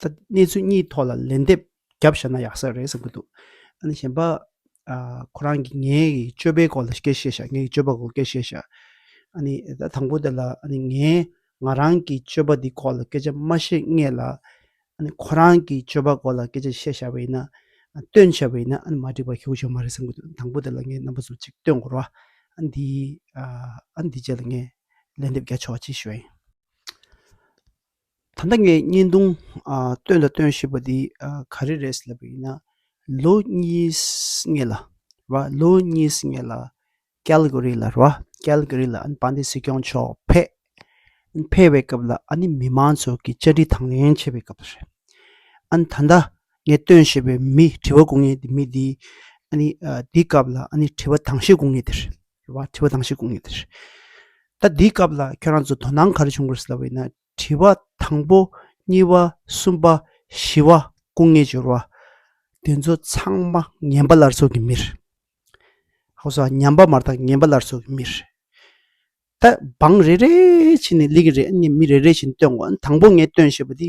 ད་གནས་ཚུལ་གཉིས་ཐོག་ལ་ལན་འདེབས་རྒྱབ་བཞག་ན་ཡག་ས་རེད་བསམ་གྱི་འདུག་ཨ་ནི་གཞན་པ། ཁོ་རང་གིས་ངའི་སྤྱོད་པའི་སྐོར་ལ་སྐད་བཤད་བཞག་ངའི་སྤྱོད་པ་སྐོར་སྐད་བཤད་བཞག་ཨ་ནི་ད་དང་པོ་དེ་ལ་ཨ་ནི་ངས་ང་རང་གི་སྤྱོད་པ་དེ་སྐོར་ལ་སྐད་ཆ་མ་བཤད་ངེས་ལ། ཨ་ནི་ཁོ་རང་གི་སྤྱོད་པ་སྐོར་ལ་སྐད་ཆ་བཤད་བཞག་པ་ཡིན་ན། སྟོན་བྱས་པ་ཡིན་ན་ཨ་ནི་མ་འགྲིག་པ་ཞུ་གི་ཆོག་མ་རེད་བསམ་གྱི་འདུག་དང་པོ་དེ་ལ་ངས་རྣམ་པ་ཚོ་གཅིག་སྟོན་དགོས་རོགས་ཨ་ནི་འདི་ཨ་ནི་འདི་རྗེས་ལ་ངས་ལན་འདེབས་རྒྱག་ཆོག་ཅེས་ཞུ་བ་ཡིན། ད་ལྟ་ངས་བརྙན་ཐུང་སྟོན་དང་སྟོན་ཞེས་པ་འདི་ག་རེ་རེད་ཟེར་བ་ཡིན་ན། ལོ་གཉིས་ལྔ་ལ་རེད་བ། ལོ་གཉིས་ལྔ་ལ་ཀལ་གྷོ་རི་ལ་རེད་བ། ཀལ་གྷོ་རི་ལ་ཨཱན་པཱན་དཱི་སྲིད་སྐྱོང་མཆོག་ཕེབས། ཕེབས་པའི་སྐབས་ལ་ཨཱ་ནི་མི་མང་ཚོ་གི་བཅར་འདྲི་དང་ལེན་བྱེད་པའི་སྐབས་རེད། ཨཱན་ད་ལྟ་ངས་སྟོན་ཞེས་པའི་མི་དྲི་བ་གོ་ངེས་མི་འདི་ཨཱ་ནི་འདི་སྐབས་ལ་ཨཱ་ནི་དྲི་བ་དྭངས་ཤེས་གོ་ངེས་དེ་རེད། བ་དྲི་བ་དང་ཞིག་གོང་ཡོད་ད་འདིའི་སྐབས་ལ་ཁྱོད་རང་ཚོ་དོ་སྣང་ག་རེ་བྱུང་དགོས་སེ་ལ་བས་ན་དྲི་བ་དང་པོ་གཉིས་བ་གསུམ་པ་བཞི་བ་སྐུ་ངལ་སྦྱོར་བ་དེ་ཚོ་ཚང་མ་ངན་པ་ལར་སོགས་ཀྱི་མིར་ཧོ་སོ་ཉམས་པ་མ་རྟགས་ངན་པ་ལར་སོགས་ཀྱི་མིར་ད་འབངས་རེ་རེ་བྱིན་ནས་ལིག་རེ་མི་རེ་རེ་བྱིན་སྟོན་དགོས་དང་པོ་ངས་སྟོན་ཞེས་པ་དེ་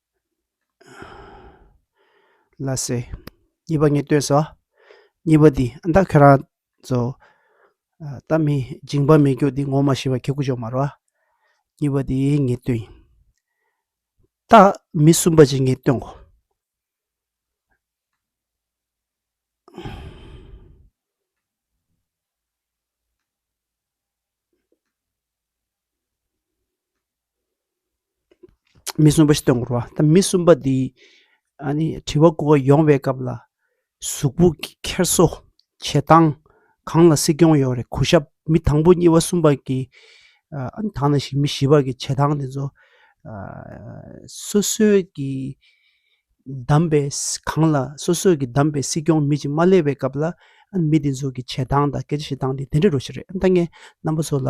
ལ་ཟེར། གཉིས་པ་ངས་ལྟོས་སོ། གཉིས་པ་འདི་ཨ་མདའ་ཁྱོད་རང་ཚོ། ད་མི་སྦྱིན་པ་མི་རྒྱུགས་འདི་ངོ་མ་ཤི་བ་ཁྱི་གུ་ཅོ་མ་རོ། གཉིས་པ་འདི་ངས་ལྟོས་ཡིན། ད་མི་གསུམ་པ་ཅིག་ངས་ལྟོས་གོ། མི་གསུམ་པ་ཞེས་སྟོན་དགོས་པ་མི་གསུམ་པ་འདི་དྲི་བ་དགོས་པ་ཡོང་བའི་སྐབས་ལ་གཟུགས་པོ་འཁྱེར་སོ་བྱེད་སྟངས་གང་ལ་སྲིད་སྐྱོང་ཡོད་རེད་གོ་ཞབས་མི་དང་པོ་གཉིས་པ་གསུམ་པ་གི་དང་ན་ཞིག་མི་བཞི་པ་གི་བྱེད་སྟངས་དེ་ཚོ་སོ་སོའི་གི་གདམས་པའི་གང་ལ་སོ་སོའི་གི་གདམས་པའི་སྲིད་སྐྱོང་མི་ཅིག་མ་སླེབས་པའི་སྐབས་ལ་མི་དེ་ཚོ་གི་བྱེད་སྟངས་དང་སྐད་ཆ་བཤད་སྟངས་དེ་དེ་འདྲ་རུ་ཞིག་རེད་ད་ངས་རྣམ་པ་ཚོ་ལ་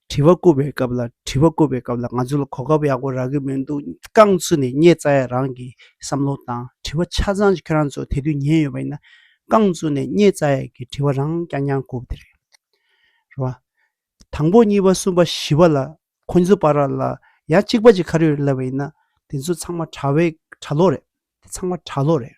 དྲི་བ་བཀོད་པའི་སྐབས་ལ་དྲི་བ་བཀོད་པའི་སྐབས་ལ་ང་ཚོ་ལ་གོ་སྐབས་ཡག་པོ་རག་གི་མི་འདུག་རྐང་ཚུགས་ནས་རྙེད་ཙ་ཡ་རང་གི་བསམ་བློ་དང་དྲི་བ་ཆ་ཚང་ཁྱོད་རང་ཚོ་དེ་དུས་ཉན་ཡོད་པ་ཡིན་ན་རྐང་ཚུགས་ནས་རྙེད་ཙ་ཡ་གི་དྲི་བ་རང་རྐྱང་རྐྱང་གོ་དེ་རེད་བ། དང་པོ་གཉིས་པ་གསུམ་པ་བཞི་པ་ལ་ཁོ་ཚོ་པར་ར་ལ་ཡ་གཅིག་པ་གཅིག་ཁ་རུས་རེད་ལབ་པ་ཡིན་ན་དེ་ཚོ་ཚང་མ་གྲྭ་བའི་གྲྭ་ལོག་རེད་དེ་ཚང་མ་གྲྭ་ལོག་རེད།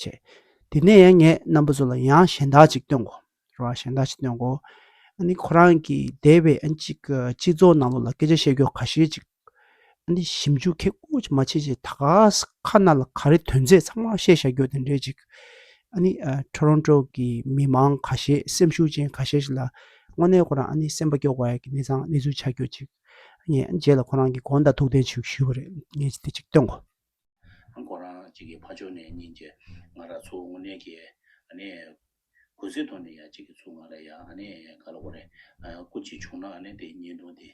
བྱས། དེ་ནས་ཡང་ངས་རྣམ་པ་ཚོ་ལ་ཡང་གཞན་དག་ཅིག་སྟོན་གོ། རེད་བ། གཞན་དག་ཅིག་སྟོན་གོ། ཨ་ནི་ཁོ་རང་གིས་འདས་པའི་ཨ་ཅིག་གི་སྤྱི་ཚོགས་ནང་ལོགས་ལ་སྐད་ཆ་བཤད་རྒྱུ་ག་ཤེད་ཅིག། ཨ་ནི་ཞིབ་འཇུག་མཁན་ཨོ་ཅི་མ་ཆེ་ཆེ་ད་ག་ས་ཁ་ན་ལ་ག་རེ་དོན་མཛད་ཚང་མ་བཤད་བཞག་རྒྱུ་དེ་འདྲས་ཅིག། ཨ་ནི་ཁྲོ་རོན་ཁྲོ་གི་མི་མང་ག་ཤེད་སེམས་ཤུགས་ཅན་ག་ཤེད་ཞིག་ལ་དངོས་གནས་ཁོ་རང་ཨ་ནི་སེམས་པ་སྐྱོ་བ་ཡག་གི་གནས་ཚང་གནས་ཚུལ་ཆ་རྒྱུ་ཅིག། ངས་རྗེས་ལ་ཁོ་རང་གིས་དགོངས་དག་ཐུགས་གཏན་ཞུས་ཞུས་པ་རེད་ངས་དེ་ཅིག་སྟོན་གོ། ཁོ་རང་གཅིག་གི་ཕ་ཕྱོགས་ནས་གཉིས་ཀྱི་ང་ར་ཚུགས་དངོས་གནས་ཀྱི་གུས་སེ་ཐོག་ནས་ཡ་གཅིག་གི་ཚུགས་ང་ར་ཡ་ག་ལ་གོ་རེ་སྐུ་གཅིག་བྱུང་ན་དེ་བརྙན་ཐུང་དེ་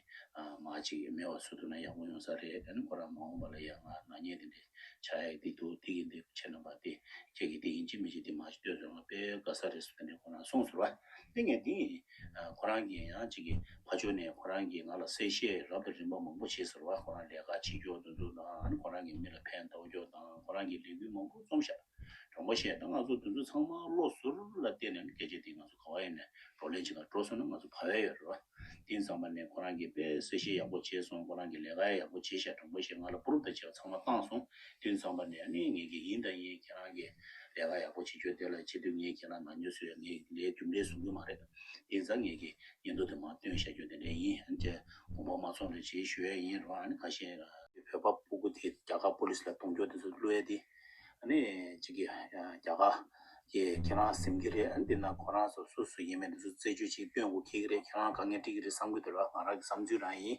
མ་གཅིག་མེད་བ་སུ་ཐུག་ན་ཡག་པོ་ཡོང་ས་རེད་ཁོ་རང་མ་འོངས་པ་ལ་ཡ་ང་ནག་ཉེས་དེ་འདྲས་ཆགས་ཡ་གི་འདི་འདུག་འདི་གི་འདི་འདུག་བྱེད་ན་པ་དེ་ཁྱེད་ཀྱི་དེ་ཡིན་གཅིག་མིན་གཅིག་དེ་མ་གཅིག་ལྟོས་ཟོས་ང་དཔེ་དགའ་ས་རེད་སུ་དེ་འདྲས་ཁོ་རང་གསུངས་ཟེར་བ་དེ་ངས་འདི་ཡིན་ཁོ་རང་གིས་ཡང་གཅིག་གིས་ཕ་ཇོ་ནས་ཁོ་རང་གིས་ང་ལ་གསལ་བཤད་རབ་དང་རིམ་པ་མང་པོ་བྱས་ཟེར་བ་ཁོ་རང་ལས་ཀ་བྱེད་རྒྱུ་འདུ་འཛུགས་དང་ཁོ་རང་གི་མི་ལ་ཕན་གདགས་རྒྱུ་དང་ཁོ་རང་གིས་ལས་འགུལ་མང་པོ་རྩོམ་ཞབས་གྲོང་པ་བཤད་ད་ང་ཚོ་འདུ་འཛུགས་ཚང་མ་བློ་ཟུར་ལ་བརྟེན་ནས་སྐད་ཆ་དེ་ང་ཚོ་ག་བ་ཡིན་ནས་བགྲོ་གླེང་བྱེད་ཁར་འགྲོ་སོང་ན་ང་ཚོ་བ་བས་ཡོད་རེད་བ་དེང་སང་བ་ནས་ཁོ་རང་གིས་དཔེ་གསལ་བཤད་ཡག་པོ་བྱས་སོང་ཁོ་རང་གིས་ལས་ཀ་ཡག་པོ་བྱས་ཤག་གྲོང་པ་བཤད་ང་ལ་པུ་རུབ་དང་བྱས་བ་ཚང་མ་བཏང་སོང་དུས་ཚང་མ་ནས་ངས་ངེད་ཀྱི་ཡིན་དང་ཡིན་ཁྱེད་རང་གིས་ལས་ཀ་ཡག་པོ་བྱེད་རྒྱུ་དེ་ལ་ཆེ་དུས་ངས་ཁྱེད་རང་ནང་ཉུལ་ཟེར་བའི་ངའི་ལས་རྒྱུ་འབྲས་བཟོ་གི་མ་རེད། དེ་ཚ་ངེད་ཀྱི་ཉིན་ཐོ་དེ་མ་སྟོན་བྱ་རྒྱུ་དེ་འདྲས་ཡིན་ཨང་དེ་དགོངས་པ་མ་ཚོགས་ན་ཇི་ཞུ་ཡས་ཡིན་རོགས་ཨང་ག་ཤེད། བོད་པ་སྤུ་གུ་དེ་རྒྱ་གར་པོ་ལིས་ལ་གཏོང་རྒྱུ་དེ་ཚོ་གླུ་ཡས་དེ་ཨང་ཅིག་གི་རྒྱ་གར་གི་ཁྱེད་རང་སེམས་ཀྱི་རེད་ཨང་དེ་ན་ཁོ་རང་ཚོ་སུ་སུ་ཡིན་མིན་དེ་ཚོ་རྩད་གཅོད་ཅིག་སྟོན་དགོས་ཁེལ་གི་རེད་ཁྱེད་རང་ག་ངས་དཀྲིས་གི་རེད་བསམ་གི་འདུག་ར་ང་རང་གི་བསམ་ཚུལ་རང་ཡིན།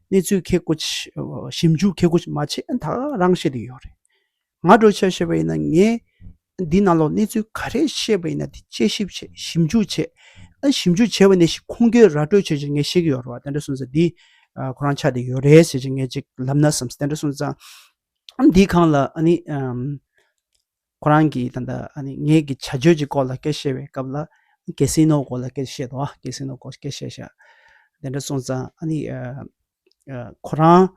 གནས་ཚུལ་མཁས་དགོས། ཞིབ་འཇུག་མཁས་དགོས་མ་བྱས་ད་རང་བཤད་དུ་ཡོད་རེད། ང་འགྲོ་ཆས་བཤད་པ་ཡིན་ན་ངས་འདི་ནང་ལོགས་གནས་ཚུལ་ག་རེ་བཤད་པ་ཡིན་ན་དེ་དཔྱད་ཞིབ་བྱས་ཞིབ་འཇུག་བྱས། ཞིབ་འཇུག་བྱས་པ་ནས་ཤིག་ཁུངས་སྐྱེལ་ར་སྤྲོད་བྱས་ཅིག་ངས་བཤད་ཀྱི་ཡོད་རེད་བ་དེ་འདྲ་སོང་ཚེ་འདིས་ཁོ་རང་ཆ་དེ་ཡོད་རེད་ཟེར་ཅིག་ངས་ཅིག་ལབ་ན་བསམས་དེ་འདྲ་སོང་ཙང། འདིས་གང་ལ་ཨ་ནི། ཁོ་རང་གིས་ད་ལྟ་ངེད་ཀྱི་བྱ་སྤྱོད་ཀྱི་སྐོར་ལ་སྐད་བཤད་པའི་སྐབས་ལ། གེ་སི་ནོའི་སྐོར་ལ་སྐད་བཤད་དོ། གེ་སི་ནོའི་སྐོར་སྐད་བཤད་བྱ། དེ་འདྲ་སོང་ཙང། ཁོ་རང་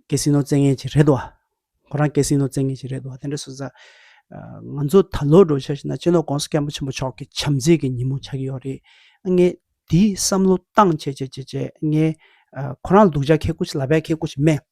གེ་སི་ནོ་བཙན་ངེད་ཀྱི་རེད། ཁོ་རང་གེ་སི་ནོ་བཙན་ངེད་ཀྱི་རེད། དེ་འདྲ་སོང་ཙང། ང་ཚོ་ད་ལོ་འགྲོ་འཆར་ཞིག་ན་གཅེན་ལོག་ཀོང་སི་སྐལ་མགོ་ཆེན་པོ་མཆོག་གི་བྱམས་བརྩེ་གི་ཉིན་མོ་ཆགས་ཀྱི་ཡོད་རེད། ངས་དེའི་བསམ་བློ་བཏང་བྱས་བྱས་བྱས་བྱས་ངས་ཁོ་རང་ལ་སྡུག་ཅག་ཁེལ་སྐོར་ཞིག་ལབ་པས་ཁེལ་སྐོར་ཞིག་སྨྲས།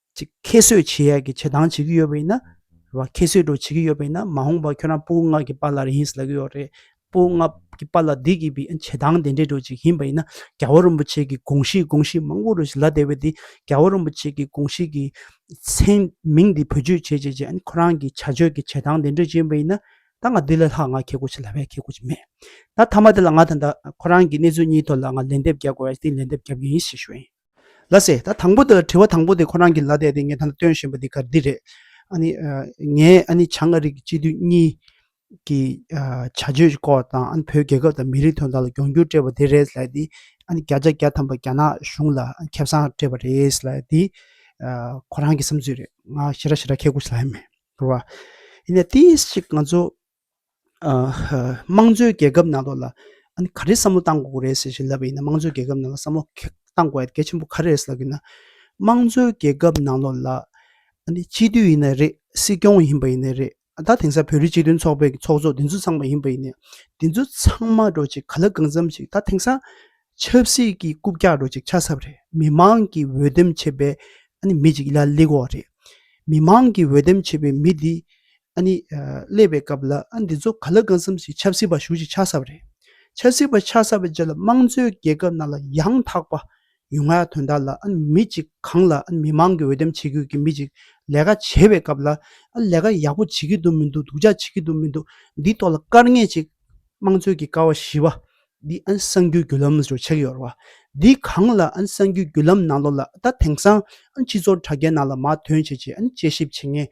གཅིག་ཁྱད་གསོད་བྱེད་ཡག་གི་བྱེད་སྟངས་བྱེད་ཀྱི་ཡོད་པ་ཡིན་ན། རེ་བ་ཁྱད་གསོད་འགྲོ་བྱེད་ཀྱི་ཡོད་པ་ཡིན་ན་མ་འོངས་པར་ཁྱོད་རང་སྤུ་ལྔ་གི་པཱ་ལར་ཡིན་ལ་གི་ཡོད་རེད། སྤུ་ལྔ་གི་པཱ་ལ་འདི་གི་བི་བྱེད་སྟངས་དེ་འདྲས་འགྲོ་བྱེད་ཀྱི་ཡིན་པ་ཡིན་ན་རྒྱལ་བ་རིན་པོ་ཆེ་གི་དགོངས་གཞི་དགོངས་གཞི་མང་པོ་རེ་ཞིག་ལ་དེ་བས་དེ་རྒྱལ་བ་རིན་པོ་ཆེ་གི་དགོངས་གཞི་གི་མཚན་མིང་འདི་བེད་སྤྱོད་བྱེད་བྱེད་བྱེད་ཁོ་རང་གི་བྱ་སྤྱོད་ཀྱི་བྱེད་སྟངས་དེ་འདྲས་ཡིན་པ་ཡིན་ན་ད་ང་འདི་ལས་ལྷག་ང་ཁྱེད་སྒོ་ཕྱེ་ལ་བས་ཁྱེད་སྒོ་ཕྱེ་མེད། ད་མཐའ་མ་དེ་ལ་ང་དང་ད་ཁོ་རང་གི་གནས་ཚུལ་གཉིས་ཐོག་ལ་ང་ལན་འདེབས་རྒྱག་དགོས་ཡ་དེ་ལན་འདེབས་རྒྱབ་ཀྱི་ཡིན་ཞེས་ཞུ་ཡིན། ལ་ཟེར་ད་དང་པོ་དེ་དྲི་བ་དང་པོ་དེ་ཁོ་རང་གིས་ལ་བསྡད་དེ་ངས་ད་ལྟ་སྟོན་བཞིན་པ་འདི་གར་འདི་རེད། ཨ་ནི། ངས་ཨ་ནི་བྱང་ཨ་རིག་སྤྱི་འཐུས་གཉིས་ཀྱི་བྱ་སྤྱོད་སྐོར་དང་ཨ་ནི་བོད་རྒྱལ་ཁབ་དང་མི་རིགས་དོན་དག་ལ་གྱོང་གུད་སྤྲད་པ་དེ་རེད་ལ་དེ་ཨ་ནི་བརྒྱ་ཆ་བརྒྱ་ཐམ་པ་རྒྱ་ནག་གཞུང་ལ་ཁེ་བཟང་སྤྲད་པ་རེད་ལ་དེ་ཁོ་རང་གི་བསམ་ཚུལ་རེད་ང་ཞེ་དྲག་ཞེ་དྲག་ཁྱེད་སྐུ་ཞེ་ལ་ཡ་མེད་རེད་བ། ཡིན་ན་དེ་ཅིག་ང་ཚོ་དམངས་གཙོའི་རྒྱལ་ཁབ་ནང་དུ་ལ་ཨ་ནི་ག་རེ་བསམ་བློ་གཏང་དགོས་རེད་ཟེར་བཞིན་ལབ་པ་ཡིན་ན་དམངས་གཙོའི་རྒྱལ་ཁབ་ནང་ལ་བསམ་བློ་གཏང་དགོས་པ་གལ་ཆེན་པོ་ག་རེ་རེད་ཟེར་ལབ་ཡིན་ན་དམངས་གཙོའི་རྒྱལ་ཁབ་ནང་ལོགས་ལ་ཨ་ནི་སྤྱི་འཐུས་ཡིན་ན་རེད་སྲིད་སྐྱོང་ཡིན་པ་ཡིན་ན་རེད་ད་དེང་སང་བོད་རིགས་སྤྱི་མཐུན་ཚོགས་པའི་ཚོགས་གཙོ་དེ་ཚོ་ཚང་མ་ཡིན་པ་ཡིན་ནས་དེ་ཚོ་ཚང་མ་འགྲོ་ཅིག་ག་ལ་གང་འཚམ་ཞིག་ད་དེང་སང་ཆབ་སྲིད་ཀྱི་རྐུབ་བཀྱག་འགྲོ་ཅིག་ཆ་ས་པ་རེད་མི་མང་གི་འོས་འདེམས་བྱས་པའི་ཨ་ནི་མི་ཅིག་ལ་ལེགས་འོག་རེད་མི་མང་གི་འོས་འདེམས་བྱས་པའི་མི་དེ་ཨ་ནི། ཀླད་པའི་སྐབས་ལ་འདི་ཚོ་ག་ལ་དགའ་མཚམས་ཤིག་ཆབ་སྲིད་པ་ཞུགས་ཅིག་ཆགས་ས་པ་རེད། ཆབ་སྲིད་པ་ཆགས་ས་པའི་རྗེས་ལ་དམངས་གཙོའི་རྒྱལ་ཁབ་ནང་ལ་ཡང་དག་པ་ཡུལ་ང་དོན་དག་ལ་མི་གཅིག་གང་ལ་མི་མང་གི་འོས་འདེམས་བྱེད་དགོས་ཀྱི་མི་གཅིག་ལས་ཀ་བྱེད་པའི་སྐབས་ལ་ལས་ཀ་ཡག་པོ་བྱེད་ཀྱི་འདུག་མི་འདུག་སྡུག་ཅག་བྱེད་ཀྱི་འདུག་མི་འདུག་འདིའི་ཐོག་ལ་སྐར་ལྔས་གཅིག་དམངས་གཙོའི་གི་ཀ་བ་བཞི་པ་འདི་ཨན་གསང་རྒྱུད་བརྒྱུད་ལམ་ཞེས་བྱ་གི་ཡོད་རེད། འདི་གང་ལ་ཨན་གསང་རྒྱུད་བརྒྱུད་ལམ་ནང་ལོགས་ལ་ད་དེང་སང་ཨན་སྤྱི་ཚོགས་དྲ་རྒྱའི་ནང་ལ་མ་ཐོན་བྱས་ཀྱི་ཨན་དཔྱད་ཞིབ་བྱེད་ངེས།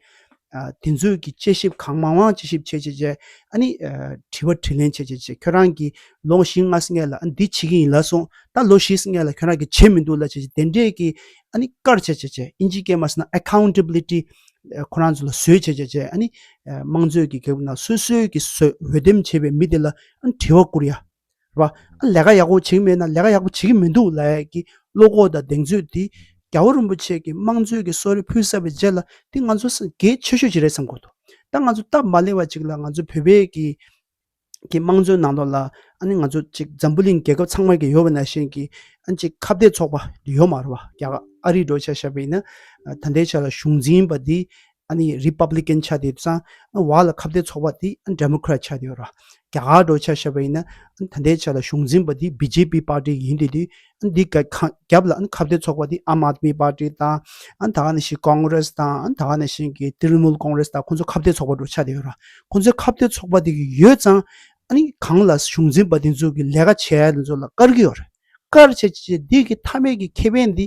དེ་ཚོས་ཀྱི་དཔྱད་ཞིབ་གང་མང་མང་དཔྱད་ཞིབ་བྱས་བྱས་བྱས་ཨ་ནི་དྲི་བ་དྲི་ལན་བྱས་བྱས་བྱས་ཁྱོད་རང་གིས་ལོ་བཞི་ལྔ་སྔས་ལ་ཨན་འདི་བྱེད་ཀྱི་ཡིན་ལ་སོང་ད་ལོ་བཞི་སྔས་ལ་ཁྱོད་རང་གིས་བྱས་མི་འདུག་ལ་བྱས་བྱས་དེ་འདྲས་ཀྱི་ཨ་ནི་བཀར་བྱས་བྱས་བྱས་ཨིན་ཇི་སྐད་མ་ཟེར་ན Accountability ཁོ་རང་ཚོ་ལ་བཟོས་བྱས་བྱས་བྱས་ཨ་ནི་དམངས་གཙོའི་གི་གེགས་བུ་ན་སོས་སོས་ཀྱི་སོས་འོས་འདེམས་བྱས་པའི་མི་དེ་ལ་དྲི་བ་བསྐུར་ཡ། རེད་པ། ལས་ཀ་ཡག་པོ་བྱེད་ཀྱི་མེད་ན་ལས་ཀ་ཡག་པོ་བྱེད་ཀྱི་མི་འདུག་ལ་ཡས་ཀྱི་བློ་ཁོག་དང་གདེང་ཚོད་དེ། རྒྱ་བོད་རིན་པོ་ཆེ་གིས་དམངས་གཙོའི་གི་གསོལ་རས་ཕུལ་ས་པའི་རྗེས་ལ་དེ་ང་ཚོ་སངས་རྒྱས་ཆེ་ཤོས་ཅིག་རེད་བསམ་དགོས་འདུག་ད་ང་ཚོ་སྟབས་མ་ལེགས་པ་ཅིག་ལ་ང་ཚོ་བོད་པའི་གི་གི་དམངས་གཙོའི་ནང་དོག་ལ་ཨ་ནི་ང་ཚོ་ཅིག་འཛམ་བུ་གླིང་རྒྱལ་ཁབ་ཚང་མར་གི་ཡོད་པ་ན་གཞན་གི་ཨ་ནི་ཅིག་ཁ་བརྡའི་ཚོགས་པ་ཡོད་མ་རེད་པ་རྒྱ་གར་ཨ་རིའི་འགྲོ་བྱ་བྱ་བའི་ནི་ད་ལྟའི་ཆ་ལ་གཞུང་འཛིན་པ་དེ་ཨ་ནི་རི་པ་བླི་ཀན་ཆ་དེ་བས་ཨ་བ་ལ་ཁ་བརྡའི་ཚོགས་པ་དེ་ཨ་འདྲ་མོ་ཁྲ་ཆ་དེ་ཡོད་ར་རྒྱ་གར་འགྲོ་ཆ་ཤ་བ་ཡིན་ན་ཨ་ད་འདའི་ཆ་ལ་གཞུང་འཛིན་པ་དེ་བི་ཇེ་པི་པར་ཏི་ཡིན་དེ་དུས་ཨ་འདི་ག་ཁ་རྒྱབ་ལ་ཨ་ཁ་བརྡའི་ཚོགས་པ་དེ་ཨམ་ཨ་མི་པར་ཏི་དང་ཨ་ད་ནི་ཤི་ཀོང་རེས་དང་ཨ་ད་ནི་ཤི་གི་ཏི་རི་མུལ་ཀོང་རེས་དང་ཁོང་ཚོ་ཁ་བརྡའི་ཚོགས་པ་འགྲོ་ཆ་དེ་ཡོད་ར་ཁོང་ཚོའི་ཁ་བརྡའི་ཚོགས་པ་དེ་གི་ཡོད་ཙང་ཨ་ནི་གང་ལ་གཞུང་འཛིན་པ་དེ་ཚོ་གི་ལས་ཀ་བྱས་དེ་ཚོ་ལ་དཀར་གི་ཡོད་ར་དཀར་བྱས་བྱས་བྱས་དེ་གི་ཐ་མས་གི་ཁེ་ཕན་དེ་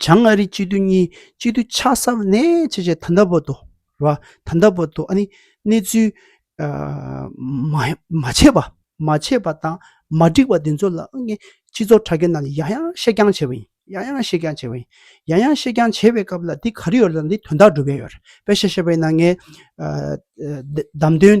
བྱང་ཨ་རི་སྤྱི་མཐུན་གཉིས་སྤྱི་མཐུན་ཆ་གསབ་ནན་ཆེ་བྱས་ད་ལྟ་བར་དུ་ད་ལྟ་བར་དུ་གནས་ཚུལ་མ་ཆད་པ་མ་ཆད་པ་དང་མ་འགྲིག་པ་དེ་ཚོ་ལ་སྤྱི་ཚོགས་དྲ་རྒྱ་ནང་ནས་ཡང་ཡང་བཤད་རྐྱང་བྱས་པ་ཡིན་ཡང་ཡང་བཤད་རྐྱང་བྱས་པ་ཡིན་ཡང་ཡང་བཤད་རྐྱང་བྱས་པའི་སྐབས་ལ་འདི་ག་རེ་ཡོད་ལ་འདི་དོན་དག་སྒྲུབ་ཡས་ཡོད་རེད་པས་བཤད་བཤད་པས་ན་ངས་བདམས་ཐོན་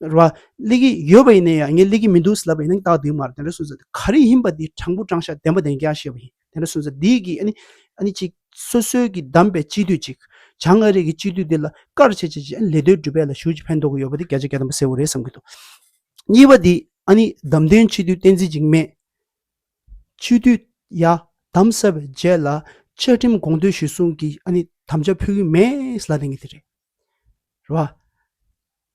རེད་བ། གླེགས་ཀྱི་ཡོད་པ་ཡིན་ན་ཡང་ངས་གླེགས་ཀྱི་མི་འདུག་ཟེར་ལབ་པ་ཡིན་ན་བདག་སྡིག་མ་རེད་དེ་འདྲ་སུན་ཟེར་ག་རེ་ཡིན་པ་འདི་དྲང་པོ་དྲང་ཤག་བདེན་པ་བདེན་སྐྱ་ཤེས་པ་ཡིན་དེ་འདྲ་སུན་ཟེར་འདི་གི་ཨ་ནི་ཅིག་སོ་སོའི་གི་བདམས་པའི་སྤྱི་འཐུས་ཅིག་བྱང་ཨ་རིག་གི་སྤྱི་འཐུས་འདི་ལ་དཀར་ཆེ་ཆེ་ཆེ་ལས་དོན་སྒྲུབ་པའི་ལ་ཞུགས་ཀྱི་ཕན་ཐོག་གི་ཡོད་པ་འདི་བརྒྱ་ཆ་བརྒྱ་དམ་པ་གསལ་བོ་རེད་བསམ་གྱི་འདུག་གཉིས་པ་འདི་ཨ་ནི་བདམས་ཐོན་སྤྱི་འཐུས་བསྟན་འཛིན་འཇིགས་མེད་སྤྱི་འཐུས་ཡ་བདམས་ས་བའི་རྗེས་ལ་བཅའ་ཁྲིམས་དགོངས་དོན་གཞིར་བཟུང་གི་ཨ་ནི་དམ་བཅའ་ཕུལ་གྱི་མེད་ལ་དེ་གཉིས་དེ་རེད། རེད། བ།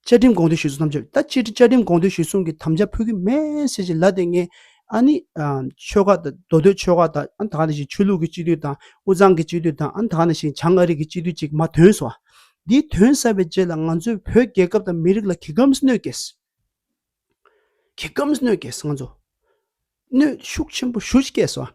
བཅའ་ཁྲིམས་དགོངས་དོན་ཞུས་སོང་ཐམས་ཅད། ད་སྤྱིར་བཅའ་ཁྲིམས་དགོངས་དོན་ཞུས་སོང་གི་དམ་བཅའ་ཕུལ་གི་མེད་ཟེར་བཞིན་ལ་དེ་སྔའི་ཨ་ནི། ཆོལ་ཁ་དང་མདོ་སྟོད་ཆོལ་ཁ་དང་ཨ་ནི་ད་ག་ནས་བཞིན་ཆོས་ལུགས་ཀྱི་སྤྱི་འཐུས་དང་དབུས་གཙང་གི་སྤྱི་འཐུས་དང་ཨ་ནི་ད་ག་ནས་བཞིན་བྱང་ཨ་རིགས་ཀྱི་སྤྱི་འཐུས་ཅིག་མ་དོན་ཟོ། འདིའི་དོན་གསལ་བའི་རྗེས་ལ་ང་ཚོས་བོད་རྒྱལ་ཁབ་དང་མི་རིགས་ལ་གྱི་གམ་སྣོད་སྐྱེས། གྱི་གམ་སྣོད་སྐྱེས་ང་ཚོ། གནོད་ཤུགས་ཆེན་པོ་ཞུ་སྐྱེས་ཟོ།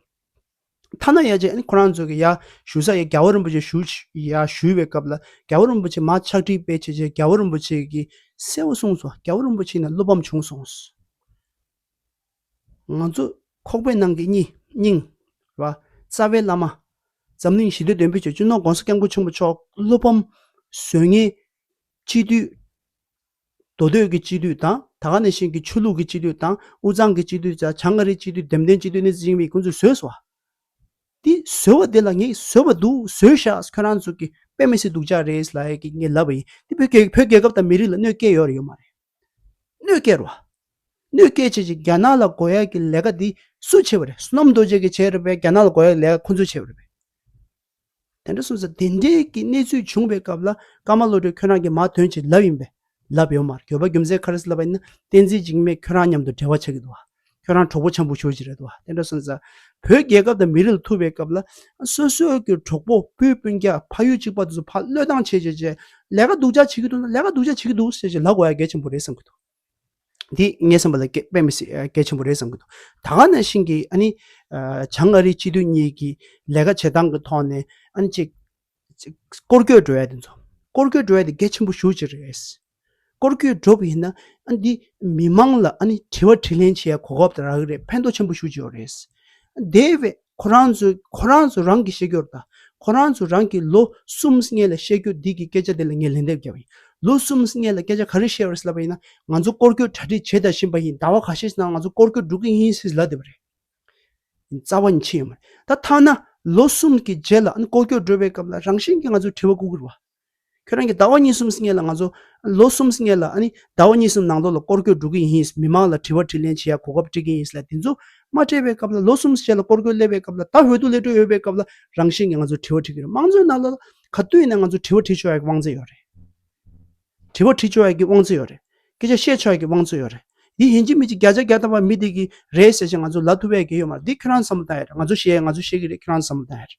ཐ་ན་ཡ་ཆེ་ཁོ་རང་ཚོ་གི་ཡ་ཞུ་ས་ཡ་རྒྱལ་བོ་རིན་པོ་ཆེ་ཞུ་ཡ་ཞུ་བའི་སྐབས་ལ་རྒྱལ་བོ་རིན་པོ་ཆེ་མ་ཕྱག་བྲིས་སྤེལ་བྱས་རྗེས་རྒྱལ་བོ་རིན་པོ་ཆེ་གིས་གསལ་བོ་གསུངས་སོང་རྒྱལ་བོ་རིན་པོ་ཆེ་ནས་བློ་ཕམ་བྱུང་སོང། ང་ཚོ་ཁོག་པའི་ནང་གི་སྙིང། ར། རྩ་བའི་བླ་མ། འཛམ་གླིང་ཞི་བདེ་འདོན་སྤེལ་བྱེད་ཅུ་ནོར་གོང་ས་སྐྱབས་མགོན་ཆེན་པོ་མཆོག་བློ་ཕམ། གཟོད་ངན། སྤྱི་འཐུས། མདོ་སྟོད་ཀྱི་སྤྱི་འཐུས་དང་ད་ག་ནས་ཤིང་གི་ཆོས་ལུགས་ཀྱི་སྤྱི་འཐུས་དང་དབུས་གཙང་གི་སྤྱི་འཐུས་བཅས་བྱང་ཨ་རིའི་སྤྱི་འཐུས་འདེམས་ཐོན་སྤྱི་འཐུས་ནི་ཙི་ཅིང་ཕིང་ཁོང་ཚོས་བཟོས་སོ། དེ་བཟོས་བ་དེ་ལ་ངས་བཟོས་པ་འདུག་བཟོས་ཤག་ཁྱོད་རང་ཚོ་གིས་དཔེ་མི་སྲིད་འདུག་ཇག་རེད་ལ་ཡས་ཀྱིས་ངས་ལབ་པ་ཡིན་དེ་བོད་རྒྱལ་བོད་རྒྱལ་ཁབ་དང་མི་རིགས་ལ་གནོད་སྐྱེལ་ཡོད་རེད་ཡོད་མ་རེད། གནོད་སྐྱེལ་རོགས། གནོད་སྐྱེལ་བྱེད་ཅིག་རྒྱ་ནག་ལ་སྒོ་ཡག་གི་ལས་ཀ་དེ་སུས་བྱས་པ་རེད་སུ་ནམ་རྡོ་རྗེ་གིས་བྱས་རེད་པས་རྒྱ་ནག་ལ་སྒོ་ཡག་གི་ལས་ཀ་ཁོང་ཚོས་བྱས་པ་རེད་པས། དེ་འདྲ་གསུངས་ས་དེ་འདྲའི་གི་གནས་ཚུལ་བྱུང་བའི་སྐབས་ལ་ཀརྨ་བློ་གྲོས་ཁྱོད་རང་གི་མ་དོན་བྱིན་རླབས་ཡིན་པས་ལབ་ཡོད་མ་རེད་གྱོད་པ་རྒྱུ་མཚན་ག་རེས་ལབ་པ་ཡིན་ན་བསྟན་འཛིན་འཇིགས་མེད་ཁྱོད་རང་མཉམ་དུ་འབྲེལ་བ་ཆགས་ཀྱི་འདུག་ཁྱོད་རང་གྲོགས་པོ་ཆེན་པོ་ཞོར་གྱི་རེད་འདུག་དེ་འདྲ་གསུངས་ས། བོད་རྒྱལ་ཁབ་དང་མི་རིགས་ལ་ཐུག་པའི་སྐབས་ལ་སོ་སོའི་གི་གྲོགས་པོ་བུ་སྤུན་རྒྱ་ཕ་ཡུལ་གཅིག་པ་དེ་ཚོ་ཕ་བློས་བཏང་བྱེད་བྱེད་བྱེད་ལས་ཀ་སྡུག་ཅག་བྱེད་ཀྱི་འདུག་ན་ལས་ཀ་སྡུག་ཅག་བྱེད་ཀྱི་འདུག་ཟེར་བྱེད་ལབ་དགོས་ཡ་གལ་ཆེན་པོ་རེད་བསམ་གྱི་འདུག་དེ་ངས་བསམ་པ་ལ་སྐད་དཔེ་མི་སྲིད་སྐད་ཆེན་པོ་རེད་བསམ་གྱི་འདུག་ད་ག་ནང་བཞིན་གྱི་ཨ་ནི་བྱང་ཨ་རིའི་སྤྱི་འཐུས་གཉིས་ཀྱི་ལས་ཀ་བྱེད་སྟངས་ཀྱི་ཐོག་ནས་ཨ་ནི་ཅིག་སྐོར་སྐྱོད་འགྲོ་ཡ་དེ་ཚོ་སྐོར་སྐྱོད་འགྲོ་ཡ་དེ་སྐད་ཆེན་པོ་ཞུ་བྱེད་རེད། སྐོར་སྐྱོད་འགྲོ་གི་ཡིན་ན་ཨ་ནི་འདི་མི་མང་ལ་ཨ་ནི་དྲི་བ་དྲིས་ལན་བྱེད་ཡ་གོ་སྐབས་རག་གི་རེད་ཕན་ཐོགས་ཆེན་པོ་ཞུ་བྱེད་ཡོད་རེད། དེ་བས། ཁོ་རང་ཚོས་རང་གི་ཤེས་རྒྱུར་དང། ཁོ་རང་ཚོས་རང་གི་ལོ་གསུམ་ལྔའི་ལ་བཤད་རྒྱུ་འདི་གི་སྐད་ཆ་འདི་ལ་ངས་ལན་འདེབས་རྒྱབ་ཡིན། ལོ་གསུམ་ལྔའི་ལ་སྐད་ཆ་ག་རེ་བཤད་རོལ་ཟེར་བ་ཡིན་ན། ང་ཚོ་སྐོར་སྐྱོད་གྲ་སྒྲིག་བྱེད་ད་བཞིན་པ་ཡིན་ཟླ་བ་ག་ཤས་ཤིག་ནང་ང་ཚོ་སྐོར་སྐྱོད་འགྲོ་གི་ཡིན་ཞེས་ལབ་བསྡད་པ་རེད། རྩ་བ་ནས་ཕྱེ་ཡོད་མ་རེད། ད་ཐ་ན་ལོ་གསུམ་གྱི་རྗེས་ལ་ཨ་ནི་སྐོར་སྐྱོད་འགྲོ་བའི་སྐབས་ལ་རང་བཞིན་གྱིས་ང་ཚོས་དྲི་བ་བཀུག་གི་རེད་བ། ཁྱོད་རང་གིས་ཟླ་བ་གཉིས་གསུམ་ལྔའི་ལ་ང་ཚོ་ལོ་གསུམ་ལྔའི་ལ་ཨ་ནི་ཟླ་བ་གཉིས་གསུམ་ནང་ལོགས་ལ་སྐོར་སྐྱོད་འགྲོ་གི་ཡིན་མི་མང་ལ་དྲི་བ་དྲིས་ལན་བྱེད་ཡ་གོ་སྐབས་སྤྲད་ཀྱི་ཡིན་ལ་དེ་ཚོ་མ་སྤྲད་པའི་སྐབས་ལ་ལོ་གསུམ་བྱས་ལ་སྐོར་སྐྱོད་སླེབས་པའི་སྐབས་ལ་ད་འོས་བསྡུ་ལས་གྲོལ་ཡོད་པའི་སྐབས་ལ་རང་བཞིན་གྱི་ང་ཚོ་དྲི་བ་དྲི་གི་རེད་དམངས་གཙོའི་ནང་ལ་ག་དུས་ཡིན་ན་ང་ཚོ་དྲི་བ་དྲི་ཆོག་ཡ་གི་དབང་ཚད་ཡོད་རེད། དྲི་བ་དྲི་ཆོག་ཡ་གི་དབང་ཚད་ཡོད་རེད། སྐད་ཆ་བཤད་ཆོག་ཡ་གི་དབང་ཚད་ཡོད་རེད། འདི་ཡིན་གཅིག་མིན་གཅིག་བརྒྱ་ཆ་བརྒྱ་བཏང་བ་མི་དེ་གི་རེད་ཟེར་བཞིན་ང་ཚོ་ལ་ཐུབ་ཡ་གི་ཡོད་མ་རེད་འདི་ཁྱོད་རང་བསམ་བློ་བཏང་ཡ་རེད་ང་ཚོ་བཤད་ཡ་ང་ཚོ་བཤད་གི་རེད་ཁྱོད་རང་བསམ་བློ་བཏང་ཡ་རེད།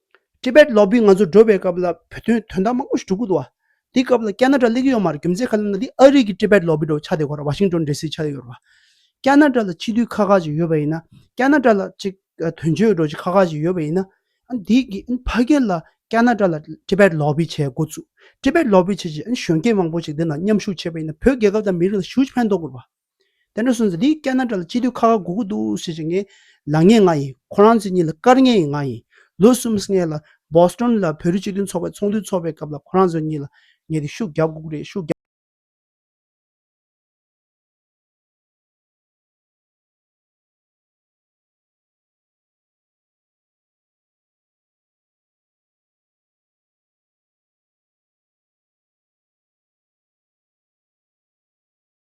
Tibet Lobby ང་ཚོ་འགྲོ་བའི་སྐབས་ལ་བོད་དོན་དོན་དག་མང་པོ་ཞིག་གྲུབ་ཀྱི་འདུག་བ། དེའི་སྐབས་ལ་ཀྱཱ་ན་ཀྲ་ལས་ཀྱི་ཡོད་མ་རེད་རྒྱུ་མཚན་ག་ལ་ན་འདི་ཨ་རིག་གི Tibet Lobby འགྲོ་བའི་ཆ་དེ་གོ་ར Washington DC ཆ་དེ་ཡོད་རེད་བ། ཀྱཱ་ན་ཀྲ་ལ་སྤྱི་འཐུས་ཁག་ཁག་ཅིག་ཡོད་པ་ཡིན་ན་ཀྱཱ་ན་ཀྲ་ལ་ཅིག་དོན་གཅོད་འགྲོ་ཅིག་ཁག་ཁག་ཅིག་ཡོད་པ་ཡིན་ན་ཨན་དེ་གི་ཨན་ཕ་གི་ལ་ཀྱཱ་ན་ཀྲ་ལ Tibet Lobby ཆའི་མགོ་བཙུགས Tibet Lobby ཆེ་ཆེ་ཨན་གཞོན་སྐྱེས་མང་པོ་ཅིག་དེ་ན་མཉམ་ཞུགས་བྱས་པ་ཡིན་ན་བོད་རྒྱལ་ཁབ་དང་མི་རིགས་ལ་ཞུགས་ཕན་ཐོག་གི་རེད་བ། དེ་འདྲ་སོང་ཚེ་འདི་སྐད་ན་དགྲ་ལ་སྤྱི་འཐུས་ཁ་ཁ་སྒུག་སྒུག་འདུག་ཞེས་བྱེད་ངེས། ལངས་ངེས་ང་ཡིན། ཁོ་རང་ཚོ་གཉིས་ལ་བཀར་ངེས་ཡིན་ང་ཡིན། ལོ་གསུམ་སྔས་ལ Boston ལ་བོད་རིགས་སྤྱི་མཐུན་ཚོགས་པའི་ཚོགས་འདུ་འཚོགས་པའི་སྐབས་ལ་ཁོ་རང་ཚོ་གཉིས་ལ་ངས་དེ་ཤུགས་རྒྱབ་སྒུག་རེད་ཤུགས་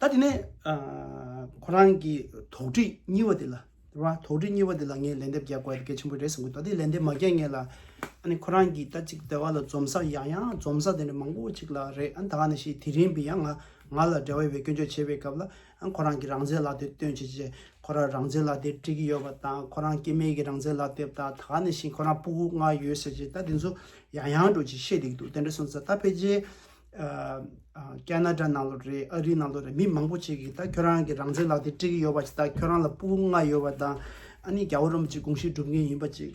ད་དེ་ནས་ཁོ་རང་གི་དོགས་འདྲི་གཉིས་པ་དེ་ལ་དོགས་འདྲི་གཉིས་པ་དེ་ལ་ངས་ལན་འདེབས་རྒྱག་དགོས་ཀྱི་ཆེན་པོ་རེད་བསམ་གྱི་འདུག་ད་དེ་ལན་འདེབས་མ་རྒྱག་ངེས་ལ། ཨཱ་ནི་ཁོ་རང་གིས་ད་ཅིག་དེ་ག་ལ་འཛོམས་ས་ཡང་ཡང་འཛོམས་ས་དེ་འདྲ་མང་པོ་ཅིག་ལ་རེད་ཨ་ད་ག་ནས་ཤེས་དེ་རིང་བི་ཡ་ང་ང་ལ་འདྲ་བའི་བའི་སྐྱོན་བརྗོད་བྱེད་པའི་སྐབས་ལ་ཁོ་རང་གི་རང་བཙན་ལག་དེབ་སྟོན་བྱེད་ཆེད་ཁོ་རང་རང་བཙན་ལག་དེབ་སྤྲད་ཀྱི་ཡོད་པ་དང་ཁོ་རང་སྐྱེས་དམན་གྱི་རང་བཙན་ལག་དེབ་དང་ད་ག་ནས་བཞིན་ཁོ་རང་སྤུ་གུ་ལྔ་ཡོད་ཟེར་བྱས་ད་དེ་ཚོ་ཡང་ཡང་སྒྲོག་ཅིག་བཤད་བསྡད་ཀྱི་འདུག་དེ་འདྲ་སོང་ཚ་ད་ཕལ་ཆེར། ཀན་ན་རྡ་ནང་ལོ་རེད་ཨ་རི་ནང་ལོ་རེད་མི་མང་པོ་ཆེ་གིས་ད་ཁྱོད་རང་གི་རང་བཙན་ལག་དེབ་སྤྲད་ཀྱི་ཡོད་པ་ཆེད་ད་ཁྱོད་རང་ལ་སྤུ་གུ་ལྔ་ཡོད་པ་དང་ཨ་ནི་རྒྱ་བོ་རོམ་གྱི་དགོངས་གཞི་སྒྲུབ་མཁན་ཡིན་པ་ཅིག།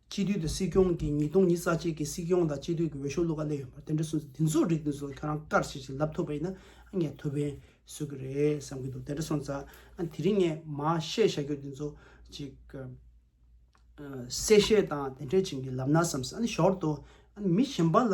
སྤྱི་འཐུས་དང་སྲིད་སྐྱོང་གི་ཉིས་སྟོང་ཉིས་རྩ་གཅིག་གི་སྲིད་སྐྱོང་དང་སྤྱི་འཐུས་ཀྱི་འོས་ཤོག་བླུག་ག་ལེན་ཡོད་པ་དེ་འདྲ་སོང་ཚེ་འདི་ཚོ་རིགས་འདི་ཚོ་ཁྱོད་རང་དཀར་ཆིལ་ཆིལ་ལབ་ཐུབ་པ་ཡིན་ན་ངས་ཐུགས་ཕན་གསོས་ཀྱི་རེད་བསམ་གྱི་འདུག་དེ་འདྲ་སོང་ཙང་དེ་རིང་ངས་མ་བཤད་བཤད་རྒྱུ་འདི་ཚོ་ཅིག་གསལ་བཤད་དང་དེ་འདྲས་བྱིན་གྱིས་ལབ་ན་བསམས་སོང་ཞོར་དུ་མི་གཞན་པ་ལ་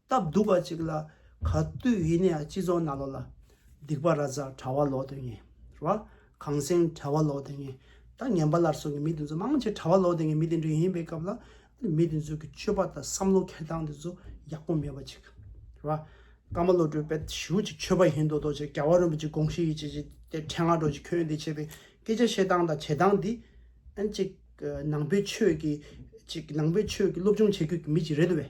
སྟབས་སྡུག་པ་ཅིག་ལ་ག་དུས་ཡིན་ནའི་སྤྱི་ཚོགས་ནང་ལོག་ལ་སྡིག་པ་ར་ཙ་གྲྭ་བ་ལོག་དོན་ངེས་ར་གངས་སེང་གྲྭ་བ་ལོག་དོན་ངེས་ད་ངན་པ་ལར་སོང་གི་མི་དེ་ཚོ་མང་ཆེ་གྲྭ་བ་ལོག་དོན་ངེས་མི་དེ་འདྲ་ཡིན་པའི་སྐབས་ལ་མི་དེ་ཚོ་གི་སྤྱོད་པ་དང་བསམ་བློ་ཁེར་སྟངས་དེ་ཚོ་ཡག་པོ་མེད་པ་ཅིག་ར་ཀརྨ་བློ་གྲོས་དཔལ་ཞུ་ཅིག་ཆོས་པ་ཡིན་མདོག་མདོག་ཅིག་རྒྱ་བ་རིན་པོ་ཆེ་དགོངས་བཞེས་ཡིན་ཅིག་ཅིག་དེ་འཕྲལ་ང་འགྲོ་ཅིག་ཁྱོད་འདི་བྱས་པའི་སྐད་ཆ་བཤད་སྟངས་དང་བྱེད་སྟངས་འདི་ཨན་ཅིག་ནང་པའི་ཆོས་ཀྱི་ཅིག་ནང་པའི་ཆོས་ཀྱི་སློབ་སྦྱོང་བྱེད་དགོས་ཀྱི་མི་ཅིག་རེད་དོ་བས།